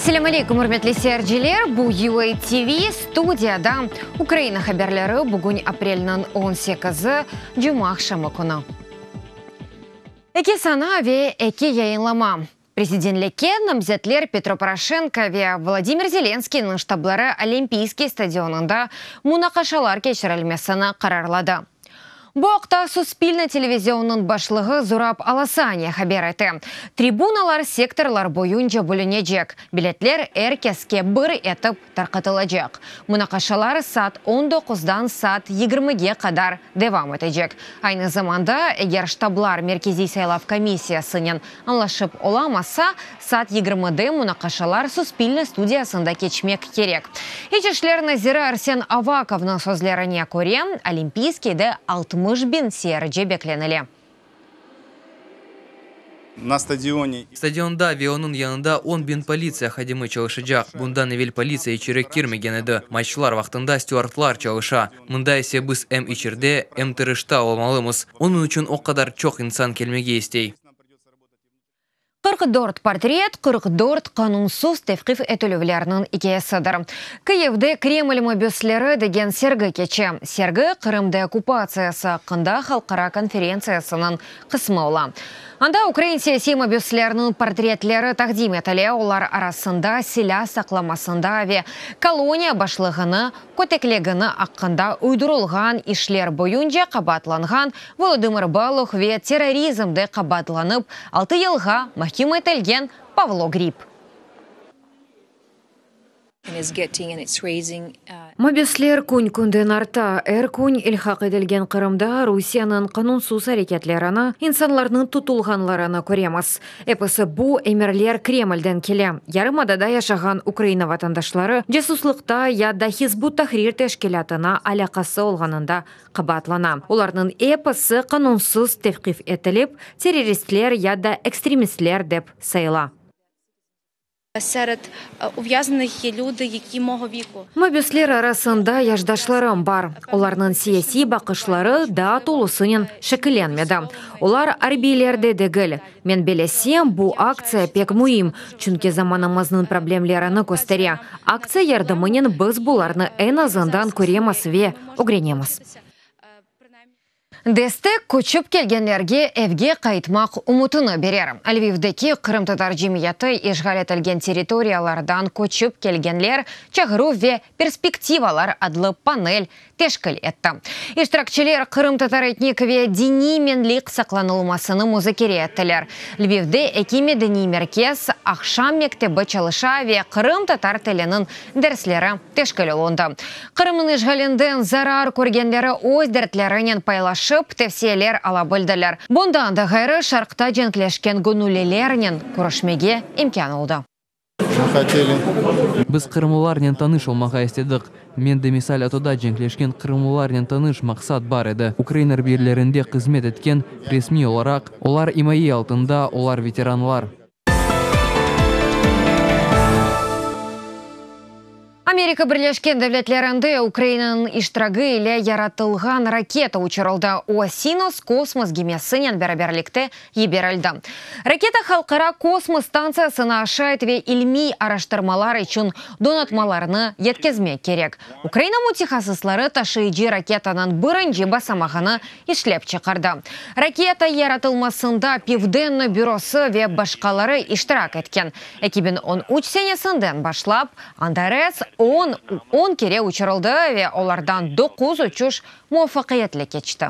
Selâm aleyküm, ürmetli seyirciler! Bu UA TV, studiyada Ukraina haberleri, bugün aprelniñ on sekizi, cuma aqşamı künü. Eki sana ve eki yayınlama. Prezidentlikke namzetler Petro Poroşenko ve Volodımır Zelenskıynıñ ştabları Olimpiyskiy stadionında munaqaşalar keçirilmesini qararladı. Bu aqta Suspilne televizionınıñ başlığı Zurab Alasaniya haber ete. Tribunalar sektorlar boyunca bölünecek, biletler er keske bir etip tarqatılacaq. Munaqaşalar saat on doquzdan saat yigirmige qadar devam etecek. Aynı zamanda, eger ştablar Merkeziy saylav komissiyasınen añlaşıp olamasa, saat yigirmide munaqaşalar Suspilne studiyasında keçmek kerek. İç işler naziri Arsen Avakovnıñ sözlerine köre, Olimpiyskiyde altmış biñ seyirci beklenile. Stadionda ve onıñ yanında on biñ politsiya hadimi çalışacaq. Bundan evel politsiya içeri kirmegen edi. Maçlar vaqtında stüardlar çalışa. Mında ise biz em içerde, em tırışta olmalımız. Onıñ içün o qadar çoq insan kelmege istey. Qırq dört portret, qırq dört qanunsız tevqif etilüvlerniñ ikâyesidir. Kıyivde Kreml mabüsleri degen sergi keçe. Sergi Qırım deokkupatsiyası aqqında halqara konferentsiyasınıñ qısmı ola. Anda ukrain siyasiy mabüslerniñ portretleri taqdim etile, olar arasında silâ saqlamasında ve koloniya başlığını köteklegeni aqqında uydurılğan işler boyunca qabaatlanğan Volodımır Baluh ve terrorizmde qabaatlanıp altı yılğa mahküm etilgen Pavlo Grip. Mabüsler kün-künden arta. Er kün ilhaq etilgen Qırımda Rusiyeniñ qanunsız areketlerini, insanlarnıñ tutulğanlarını köremiz. Episi bu emirler Kremlden kele. Yarımadada yaşağan Ukraina vatandaşları casuslıqta ya da Hizb ut-Tahrir teşkilâtına alâqası olğanında qabaatlana. Olarnıñ episi qanunsız tevqif etilip, terroristler ya da ekstremistler dep sayıla. Seret uvyaznınih ye lüdi, yeki mogo viku. Mabüsler arasında yaşdaşlarım bar. Olarnıñ siyasiy baqışları daa tolusınen şekillenmedi. Olar arbiyler de degil. Men belesem, bu aktsiya pek müim, çünki zamanımıznıñ problemlerini köstere. Aktsiya yardımınen biz bularnı eñ azından köremiz ve ögrenemiz. Destek köçip kelgenlerge evge qaytmaq ümütini berer. Lvivdeki qırımtatar cemiyeti işğal etilgen territoriyalardan köçip kelgenler, çağıruv ve perspektivalar adlı panel teşkil etti. İştirakçiler qırımtatar etnik ve diniy menlik saqlanılmasını muzakere ettiler. Lvivde eki medeniy merkez, aqşam mektebi çalışa ve qırımtatar tiliniñ dersleri teşkil olundı. Qırımnıñ işğalinden zarar körgenleri öz dertlerinen paylaşıp, tevsiyeler ala bildiler. Bundan da ğayrı, Şarqta cenkleşken göñüllilernen körüşmege imkân oldı. Biz qırımlılarnen tanış olmağa istedik. Mende misal atoda cenkleşken qırımlılarnen tanış maqsat bar edi, ukrain arbiylerinde qızmet etken, resmiy olaraq, olar imaye altında, olar veteranlar. Amerika Birleşken Devletlerinde Ukrainanıñ iştiragi ile yaratılğan raketa uçurıldı, o Sinos kosmos gemisinen beraberlikte yiberildi. Raketa Halqara kosmos stantsiyasına aşayt ve ilmiy araştırmalar içün donatmalarnı yetkezmek kerek. Ukraina mütehassısları taşıyıcı raketanıñ birinci basamağını işlep çıqardı. Raketa yaratılmasında Pivdenno bürosı ve başqaları iştirak etken. Eki biñ on üç senesinden başlap, Antares on on kere uçurıldı ve olardan doquz uçuş muvafaqiyetli keçti.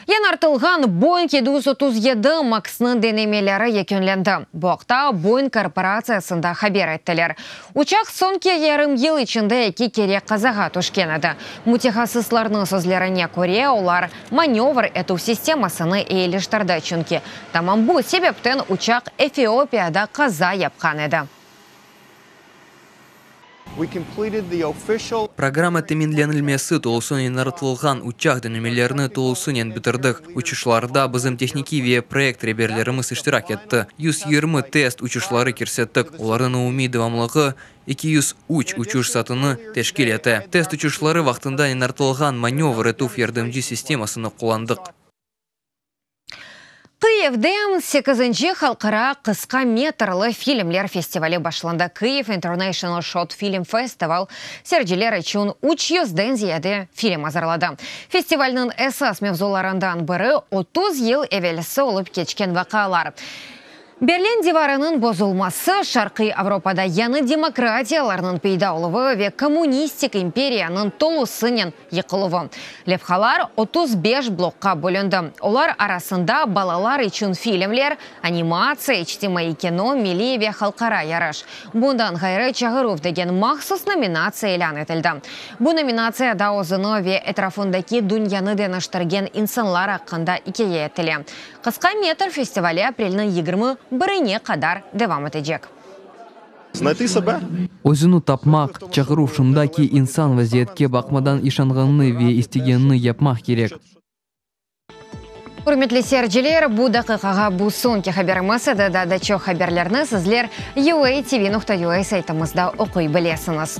Yañartılğan Boeing yedi yüz otuz yedi Max-nıñ denemeleri yekünlendi. Bu aqta Boeing korporatsiyasında haber ettiler. Uçaq soñki yarım yıl içinde eki kere qazağa tüşken edi. Mütehassıslarnıñ sözlerine köre, olar Manövr etüv sistemasını eyileştirdi, çünki tamam bu sebepten uçaq Efiopiyada qaza yapqan edi. Programma teminlenilmesi tolusınen naratılğan uçaq denemelerini tolusınen bitirdik. Uçuşlarda bizim tehnikiy ve proyekt reberlerimiz iştirak etti. Yüz yirmi test uçuşları kirsettik, olarnıñ umumiy devamlığı Eki yüz üç uçuş saatını teşkil ete. Test uçuşları vaqtında eñartılğan manövr etüv yardımcı sistemasını qullandıq. Kıyivde sekizinci halqara qısqa metrli filmler festivali başlandı. Kyiv International Short Film Festival serciler içün üç yüzden ziyade film azırladı. Festivalniñ esas mevzularından biri, otuz yıl evelsi olıp keçken vaqıalar. Berlin divarınıñ bozulması, Şarqiy Avropada yañı demokratiyalarnıñ peyda oluvı ve kommunistik imperiyanıñ tolusınen yıqıluvı. Levhalar otuz beş blokqa bölündi, olar arasında balalar içün filmler, animatsiya, içtimaiy kino, milliy ve halqara yarış. Bundan ğayrı, Çağıruv degen mahsus nominatsiya ilân etildi. Bu nominatsiyada özüni ve etrafındaki dünyanı deñiştirgen insanlar aqqında ikâye etile. Qısqa metr festivali aprelniñ yigirmi birine qadar devam etecek. Znaytı sebe? Özüni tapmaq, çağıruv şunda ki, insan vaziyetke baqmadan işanğanını ve istegenini yapmaq kerek. Ürmetli seyirciler, bu daqiqağa bu soñki haberimiz edi, daa da çoq haberlerni sizler UATV nokta UA saytımızda oquy bilesiñiz.